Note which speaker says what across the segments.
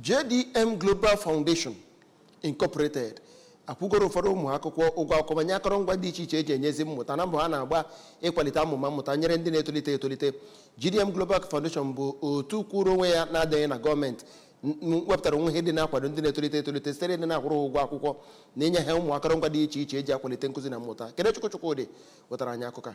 Speaker 1: JDM Global Foundation Incorporated akwụgoro ụfọdụ ụmụ akwụkwọ ụgwọ akwụkwọ ma nye akọrọngwa dị iche iche eji enyezi mmụta na mbọ ha na-agba ịkwalite amụma mmụta nyere ndị na-etolite etolite JDM Global Foundation bụ otu kwụrụ onwe ya na-adịghị na gọọmenti n- n- wepụtara onwe ha ịdị na-akwado ndị na-etolite etolite site n'ịdị na-akwụrụ ha ụgwọ akwụkwọ na inye ha ụmụ akọrọngwa dị iche iche eji akwalite nkụzi na mmụta Kenechukwu Chukwodi wetara anyị akụkọ a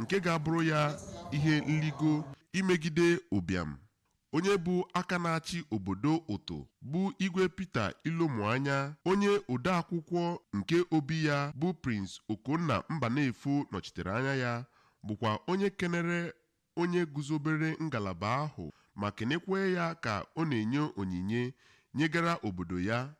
Speaker 2: nke ga-abụrụ ya ihe nligo imegide ụbịam. Onye bụ aka na-achị obodo Ụtụ bụ Igwe Peter Ilomuanya, onye odeakwụkwọ nke obi ya bụ Prince Okonna Mbanefo nọchitere anya ya, bụkwa onye kenere onye guzobere ngalaba ahụ ma kenekwaa ya ka ọ na-enye onyinye nyegara obodo ya.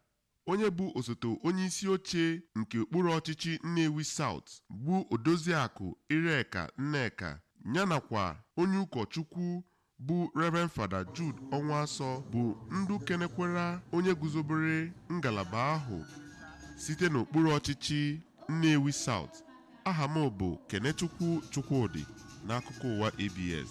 Speaker 2: Onye bụ osote onye isi oche nke okpuru ọchịchị Nnewi South bụ Odoziakụ Ireka Nneka ya nakwa onye ụkọchukwu bụ Reverend Fada Jude Ọnwụasọ bụ ndị kenekwara onye guzobere ngalaba ahụ site n'okpuru ọchịchị Nnewi South. Aha m bụ Kenechukwu Chukwodi n'akụkọ ụwa ABS.